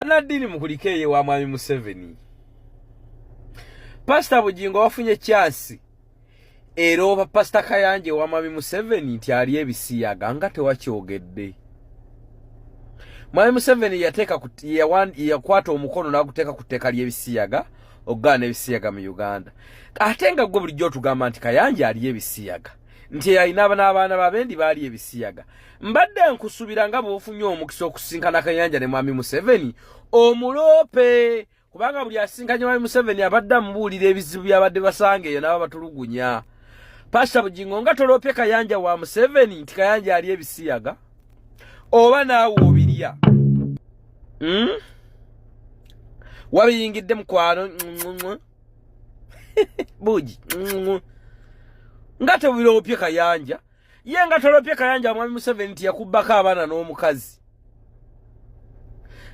Banadini mukulike ye wa mwami Museveni. Pastor Bujingo wafunye chance. Ero pa Pastor Kayanje wa mwami Museveni nti ali ebisiya ganga te wakyogedde. Mwami Museveni yateka kuti ya wan ya kwato omukono na kuteka kuteka ali ebisiyaga ogana ebisiyaga mu Uganda. Atenga gwe bulijjo tugamba nti Kayanje ali ebisiyaga. Nti yayina abana abana babendi bali ebisiyaga. mbadde nkusubira nga bwofunye omukisa okusinkana kayanja ne mwami museveni omuloope kubanga buli asinkanye mwami museveni abadde amubuulira ebizibu byabadde basanga eyo naba batulugunya pasta bugingo nga toloopye kayanja wa museveni nti kayanja ali ebisiyaga oba naawe obirya hmm? wabiyingidde mukwano bugi nga tebuloopye kayanja ye nga tolopye kayanja mwami museveni nti yakubbako abaana n'omukazi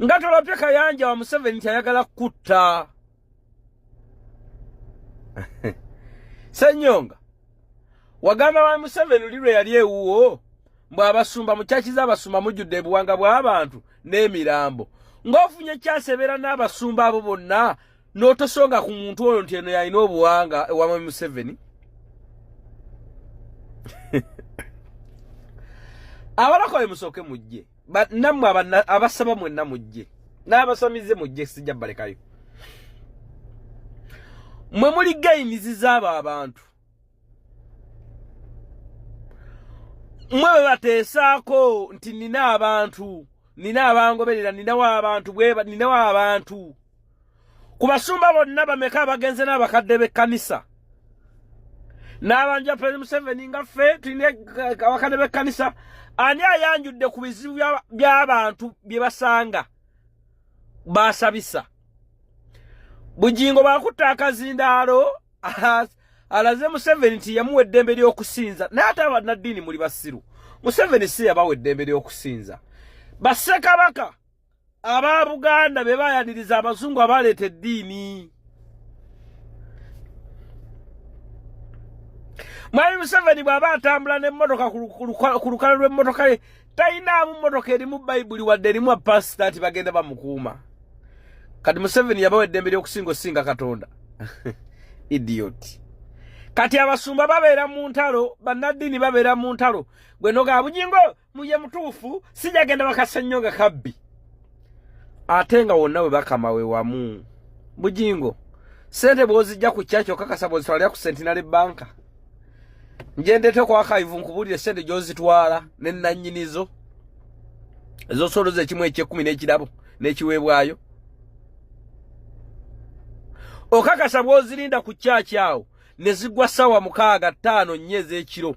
nga tolopye kayanja wa museveni nti ayagala kukutta senyonga wagamba mwami museveni oli lwe yali ewuwo mbu abasumba mukyakiza abasumba mujjudde ebuwanga bw'abantu n'emirambo ng'ofunye ekyasebeera n'abasumba abo bonna n'otosonga ku muntu oyo nti eno yalina obuwanga ewama museveni abalakoye musooke mujje nammwe abasaba mwenna mujje n'abasamize mujje sijja balekayo mwe muli gaimizi z'abo abantu mwe bwe bateesaako nti nina abantu nina abangoberera ninawo abantu bweba ninawo abantu ku basumba bonna bameka abagenze n'abakadde b'ekkanisa n'abanja pere museveni nga ffe tulina abakadde b'ekkanisa ani ayanjudde ku bizibu by'abantu bye basanga baasabisa bugingo baakutta akazindaalo alaze museveni nti yamuwa eddembe ly'okusinza naye ate abannaddiini muli basiru museveni si yabawa eddembe ly'okusinza bassekabaka aba buganda be bayaniriza abazungu abaleeta eddiini mwami museveni bw'aba atambula n'emmotoka ku lukala lw'emmotoka ye talinaamu mmotoka erimu bayibuli wadde erimu apasita nti bagenda bamukuuma kati museveni yabawa eddembe ly'okusinga osinga katonda idioti kati abasumba babeera mu ntalo bannaddiini babeera mu ntalo gwe noga bujingo muye mutuufu sijagenda bakasa nnyo nga kabbi ate nga wonna we bakama we wamu bujingo sente bwozijja ku kyaki okakasa bwozitwalira ku sentinary banka njendete okwakaivu nkubuulire sente gyozitwala ne nannyinizo ezosoloza ekimu ekyekumi n'ekirabo n'ekiweebwayo okakasa bwozirinda ku kyaki awo ne zigwa ssaawa mukaaga ttaano nnya ez'ekiro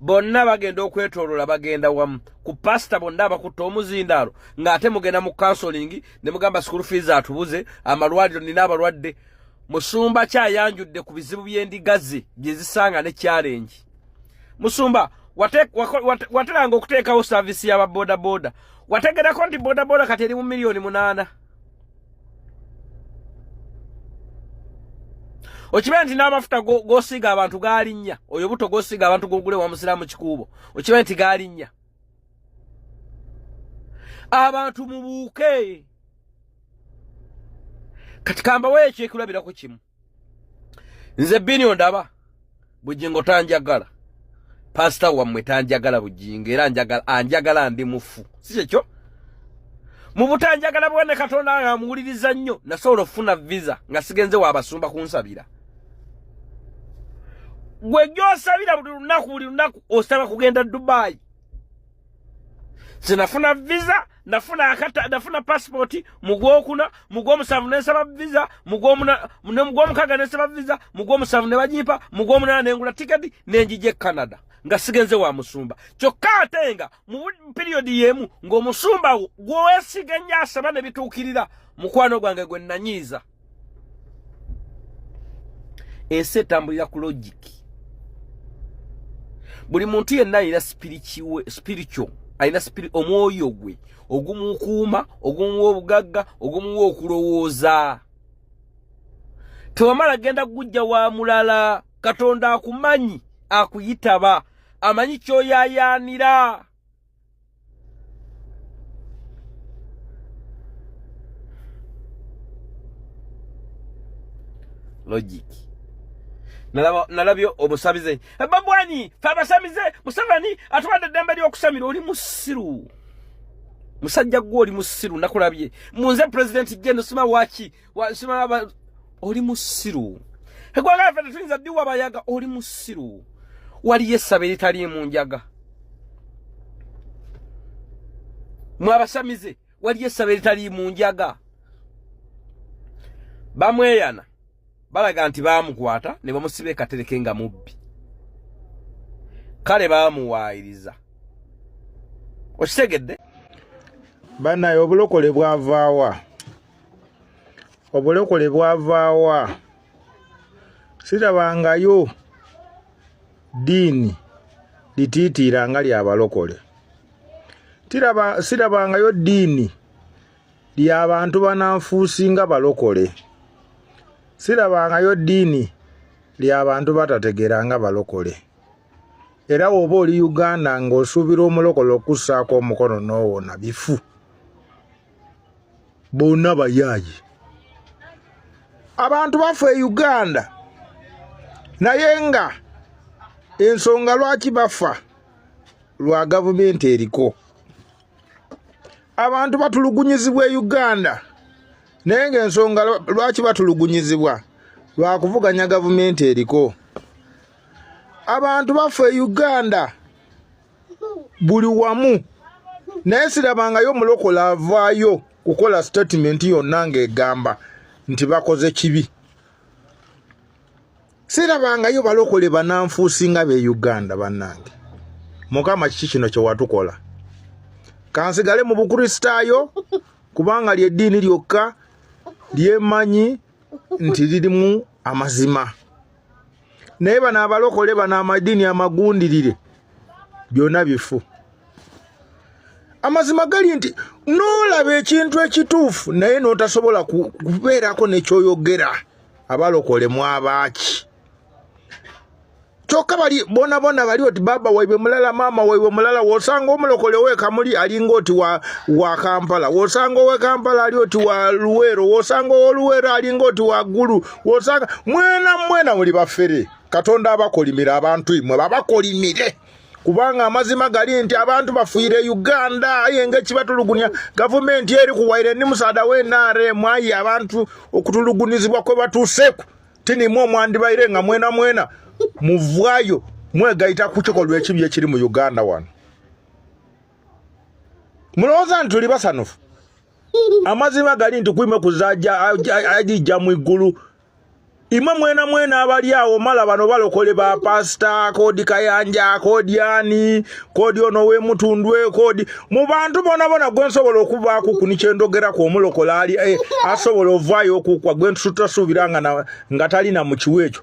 bonna bagenda okwetolola bagenda wamu ku pasita bonna abakutte omuzindaalo ng'ate mugenda mu kansolingi ne mugamba sikulu fiizi atubuze amalwaliro nina abalwadde musumba kyayanjudde ku bizibu by'endiga ze bye zisanga ne kyalengi musumba wateranga okuteekawo saavisi y'aba bodaboda wategerako nti bodaboda kati eri mu miliyoni munaana okimanyi nti n'amafuta gosiiga abantu galinnya oyo buto gosiiga abantu gogule wa musiraamu kikuubo okimanyi nti galinnya abantu mubuuke kati kambawo ekyekulabirako kimu nze bini ondaba bujingo tanjagala pasita wammwe tanjagala bujingo era anjagala ndi mufu si kyekyo mu butanjagala bwene katonda nga amuwuliriza nnyo nasobola okufuna visa nga sigenze waabasumba kunsabira gwe gyosabira buli lunaku buli lunaku osaba kugenda dubaayi nze nafuna visa nafuna akata nafuna passport mugwokuna mugwomusanvu nensaba visa mugwomuna ne mugwomukaga nensaba visa mugwomusanvu ne banyimpa mugwomunana nengula tiketi nenjije canada nga sigenze wa musumba kyokka ate nga mu piriyodi y'emu ng'omusumba wo gw'owesiga nnyo asaba ne bituukirira mukwano gwange gwe nanyiiza ensi etambulira ku logic buli muntu yenna alina spiritual alina omwoyo gwe ogumukuuma ogumuwa obugagga ogumuwa okulowooza tewamala genda kugujja wa mulala katonda akumanyi akuyitaba amanyi kyoyayaanira logic nalabye obusabize eh, babwani fe abasamize museveni atuwadde eddembe ly'okusamira oli musiru musajja gwe oli musiru nakulabye munze pulezidenti jene sima waki wasimaba oli musiru egwanga laffe tetuyinza diwa bayaga oli musiru waliyo essaba eritaliimu njaga mwe abasamize waliyo essaba eritaliimu njaga bamweyana balaga nti baamukwata ne bamusiba ekatereke nga mubbi kale baamuwaayiriza okitegedde banaye obulokole bwavaawa obulokole bwavaawa sirabangayo diini litiitiira nga lyabalokole sirabangayo diini lyabantu bananfuusi nga balokole sirabangayo diini lyabantu batategeera nga balokole era woba oli uganda ng'osuubira omulokola okukussaako omukono n'owona bifu bonna bayaaye abantu bafa e uganda naye nga ensonga lwaki bafa lwa gavumenti eriko abantu batulugunyizibwa e uganda naye nga ensonga lwaki batulugunyizibwa lwakuvuganya gavumenti eriko abantu bafa e uganda buli wamu naye sirabangayo omulokola avaayo kukola statement yonna ng'egamba nti bakoze kibi sirabangayo balokole bananfuusi nga be uganda bannange mukama kiki kino kyewatukola kansigale mu bukristaayo kubanga lyeddiini lyokka lyemanyi nti lirimu amazima naye bano abalokole bano amadini amagundirire byona bifu amazima gali nti nolaba ekintu ekituufu naye notasobola kubeerako nekyoyogera abalokole mwabaaki kyokka bali bona bona bali oti baba waibwe mulala maama waibwe mulala wosanga omulokole wekamuli alinga oti wa, wa kampala wosanga owekampala ali oti wa luweero wosanga owoluweero alinga oti wa gulu wosanga mwena mwena muli bafere katonda abakolimire abantu imwe babakolimire kubanga amazima gali nti abantu bafuire uganda aye nga ekibatulugunya gavumenti eri kuwaire ni musaada we nrm aye abantu okutulugunizibwa kwe batuuseku tinimwe omwandibaire nga mwena mwena muvwayo mwegayita ku kikolwa ekibi ekiri mu uganda wano mulowooza nti tuli basanufu amazima gali nti kwima kuzaja ajija mu igulu imwe mwena mwena abali awo mala bano balokole ba pasta kodi kayanja kodi ani kodi ono we mutundwe kodi mu bantu bona bona gwe nsobola okuba ku kuni kyendogera ku omulokola ali eh, asobola ovayo okukwa gwe ntutasubiranga nga tali na mukiwecho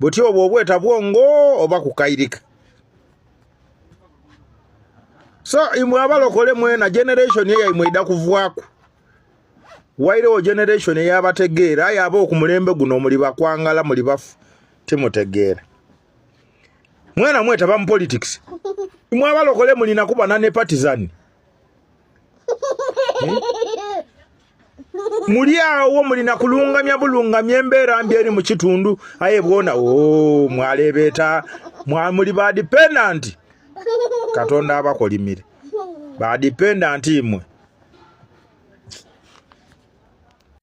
butya obwo obweta bwongo oba kukairika so imwe abalokole mwena generation eyo imwe ida kuvwaku wairewo generation eyabategeera aye aba okumulembe guno muli bakwangala muli bafu timutegeera mwena mwetaba mu politics imwe abalokole mulina kuba nane partizan hmm? muli awo mulina kulungamya bulungamya embeera mbi eri mu kitundu aye bwona o oh, mwaleebeeta mwamuli ba dependant katonda abakolimire ba dependant imwe